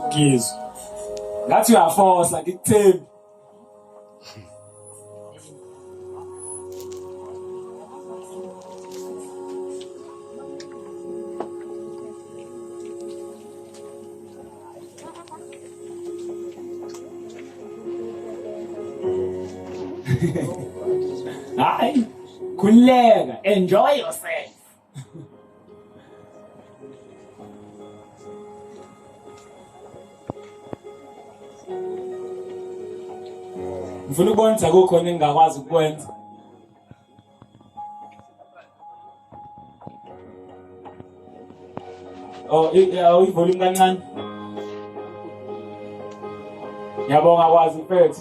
ngizwe ngathi uyafosa ngikuthembi Hi. Kuleka, enjoy yourself. ngifuna ukubonisa kukhona engingakwazi ukukwenza Oh, uyivolume kancane. Ngiyabonga kwazi mfethu.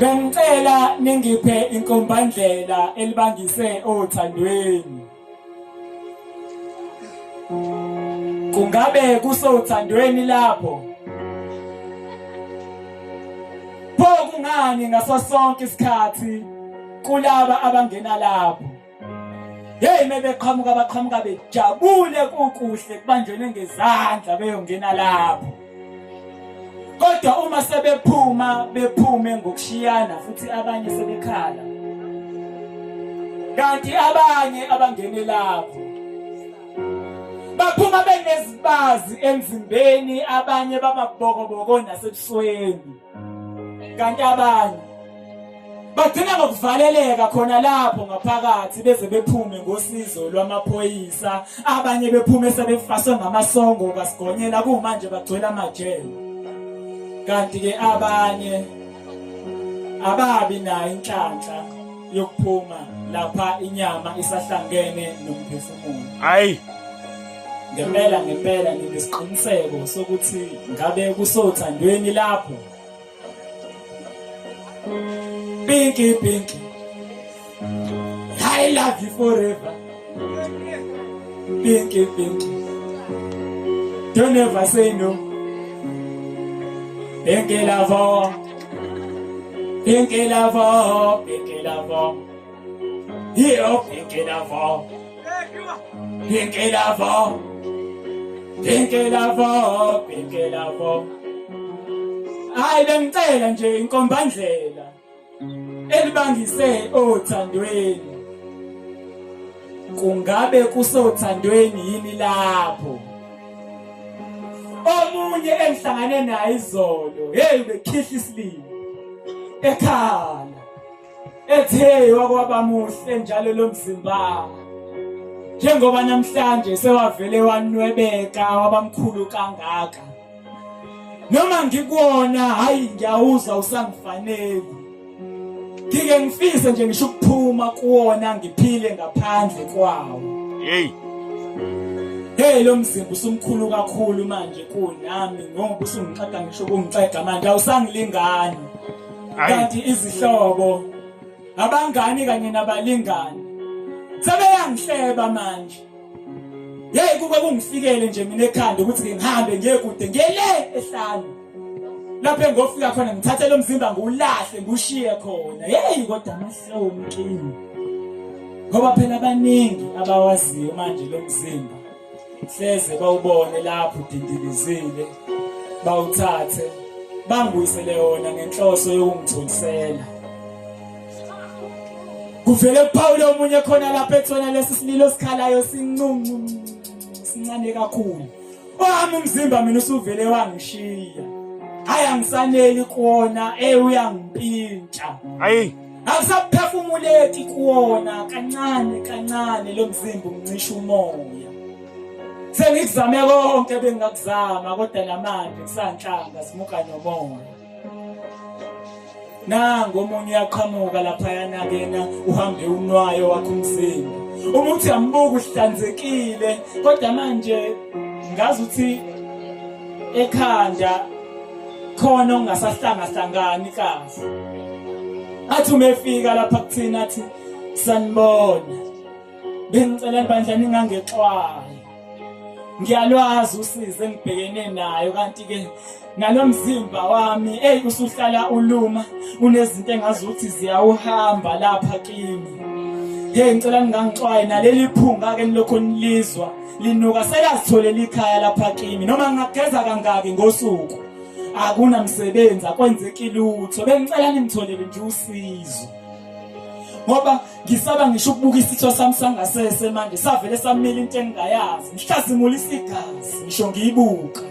Bengicela ningiphe inkombandlela elibangise othandweni. Kungabe kusothandweni lapho? Pho kungani ngaso sonke isikhathi kulaba abangena lapho? Hey mebeqhamuka baqhamuka bejabule kukuhle kubanjwene ngezandla beyongena lapho. Kodwa uma sebephuma bephume ngokushiyana futhi abanye sebekhala. Kanti abanye abangene lapho baphuma benezibazi emzimbeni abanye bababokoboko nasebusweni kanti abanye bagcina ngokuvaleleka khona lapho ngaphakathi beze bephume ngosizo lwamaphoyisa abanye bephume sebefaswe ngamasongo kasigonyela kumanje bagcwele amajele kanti ke abanye ababi nayo inhlanhla yokuphuma lapha inyama isahlangene nomphefumulo hayi Ngempela ngempela nginesiqiniseko sokuthi ngabe kusothandweni lapho. Pinky Pinky I love you forever. Pinky Pinky Don't ever say no. Pinky love, Pinky love, Pinky love. Hier auf den Kinderwurm. Den Kinderwurm. Den Kinderwurm. Den Kinderwurm. Hayi bengicela nje inkombandlela elibangise othandweni. Kungabe kusothandweni yini lapho? Omunye engihlangane naye izolo, hey bekhihla isilimo. Ekhaya ethe wakwaba muhle njalo lo mzimba njengoba namhlanje sewavele wanwebeka wabamkhulu kangaka noma ngikuwona hayi ngiyawuza usangifanele ngike ngifise nje ngisho ukuphuma kuwona ngiphile ngaphandle kwawo hey hey lo mzimba usumkhulu kakhulu manje kunami ngoba usungixega ngisho kungixega manje awusangilingani kanti izihlobo abangani kanye nabalingani sebeyangihleba manje yeyi kuke kungifikele nje mina ekhanda ukuthi ngihambe ngiye kude ngiye le ehlane lapho engofika khona ngithathe lo mzimba ngiwulahle ngiwushiye khona yeyi kodwa amahloni kimi ngoba phela abaningi abawaziyo manje lo mzimba hleze bawubone lapho udindilizile bawuthathe bangibuyisele yona ngenhloso yokungitholisela kuvele kuphawule omunye khona lapha ethona lesi sililo sikhalayo sincincu sincane kakhulu owami umzimba mina usuvele wangishiya hayi angisaneli kuona eh uyangimpintsha hayi akusaphefumuleki kuwona kancane kancane lo mzimba uncisha umoya sengikuzame konke bengingakuzama kodwa namanje ngisanhlanga simuka nomoya nangu omunye uyaqhamuka laphayana kena uhambe unwayo wakho umzimba uma uthi ambuka uhlanzekile kodwa manje ngazi ukuthi ekhanda khona ungasahlangahlangani kahle athi umefika lapha kuthina athi sanibona bengicela bandla ningangexwayo ngiyalwazi usize engibhekene nayo kanti ke nalomzimba wami ey usuhlala uluma unezinto engazi ukuthi ziyawuhamba lapha kimi hey ngicela ningangixwaye naleli phunga ke nilokho nilizwa linuka selazitholela ikhaya lapha kimi noma ngingageza kangaki ngosuku akunamsebenzi akwenzeki lutho bengicela ningitholele nje usizo ngoba ngisaba ngisho ukubuka isitho sami sangasese manje savele samile into engingayazi ngihlazimula isigazi ngisho ngiyibuka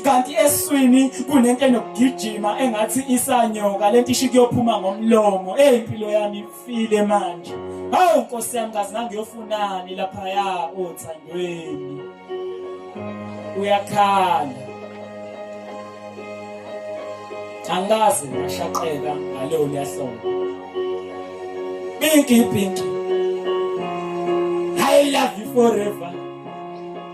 kanti eswini kunento enokugijima engathi isanyoka lento isho kuyophuma ngomlomo eyimpilo yami file manje hawu nkosi yami kazi ngangiyofunani laphaya othandweni uyakhala angazi ngashaqeka ngaleyo lyahlonga pinki pinki i love you forever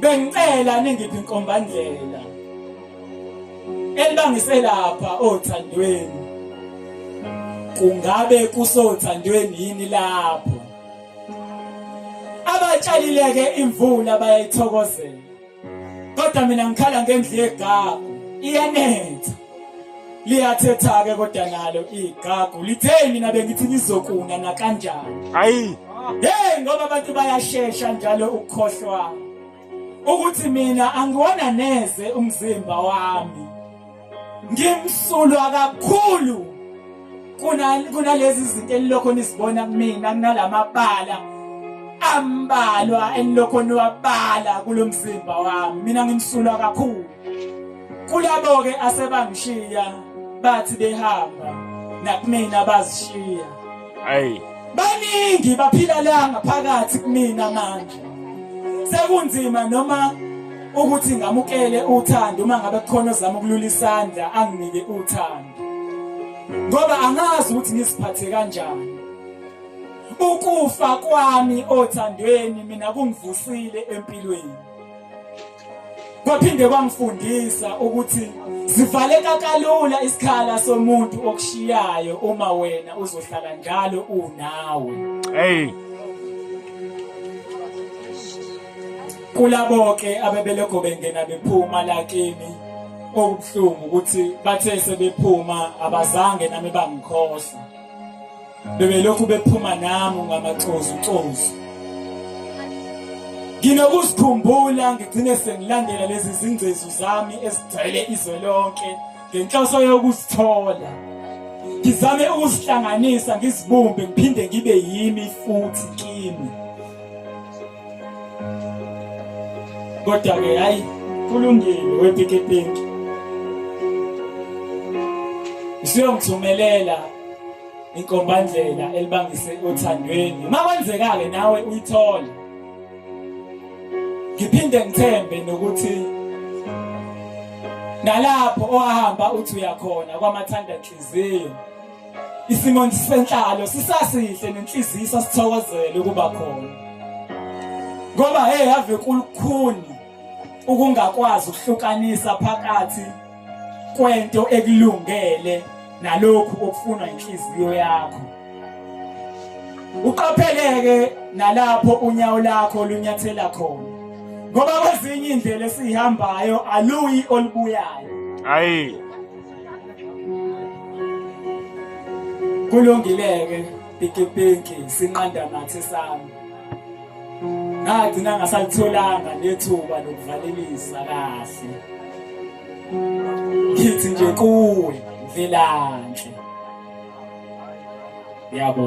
bengicela ningiphi inkombandlela elibangise lapha othandweni kungabe kusothandweni yini lapho abatshalileke imvula bayayithokozela kodwa mina ngikhala ngendlu yegagu iyanetha liyathetha-ke kodwa nalo igagu lithe mina bengithi ngizokuna nakanjani hayi hey ngoba abantu bayashesha njalo ukukhohlwa ukuthi mina angiwona neze umzimba wami ngimsulwa kakhulu kunalezi zinto enilokho nizibona kumina kunalamabala ambalwa enilokho niwabala kulo mzimba wami mina ngimsulwa kakhulu kulabo-ke asebangishiya bathi behamba nakumina bazishiya hayi baningi baphila la ngaphakathi kumina manje sekunzima noma ukuthi ngamukele uthando uma ngabe khona ozama ukulula isandla anginike uthando ngoba angazi ukuthi ngiziphathe kanjani ukufa kwami othandweni mina kungivusile empilweni kwaphinde kwangifundisa ukuthi zivaleka kalula isikhala somuntu okushiyayo uma wena uzohlala njalo unawe hey Kulaboke abebelokho bengena bephuma la kimi okubuhlungu ukuthi bathe sebephuma abazange nami bangikhohla. Bebelokhu bephuma nami ngamacozu cozu. Nginokusikhumbula ngigcine sengilandela lezi zingcezu zami esigcwele izwe lonke ngenhloso yokuzithola. Ngizame ukuzihlanganisa ngizibumbe ngiphinde ngibe yimi futhi kimi. kodwa ke hayi kulungile wepikipiki usuyongithumelela inkombandlela elibangise othandweni uma kwenzeka-ke nawe uyithole ngiphinde ngithembe nokuthi nalapho owahamba uthi uyakhona kwamathandanhliziyo Isimo senhlalo sisasihle nenhliziyo sasithokozele ukuba khona. Ngoba hey ave kulukhuni ukungakwazi ukuhlukanisa phakathi kwento ekulungele nalokhu okufunwa inhliziyo yakho. Uqapheleke nalapho unyawo lakho lunyathela khona. Ngoba kwezinye indlela esihambayo aluyi olubuyayo. Hayi. kulungileke pikipiki sinqanda nathi sami ngagcina ngasalitholanga nethuba lokuvalelisa kahle ngithi nje kuwe mvelanhle yabo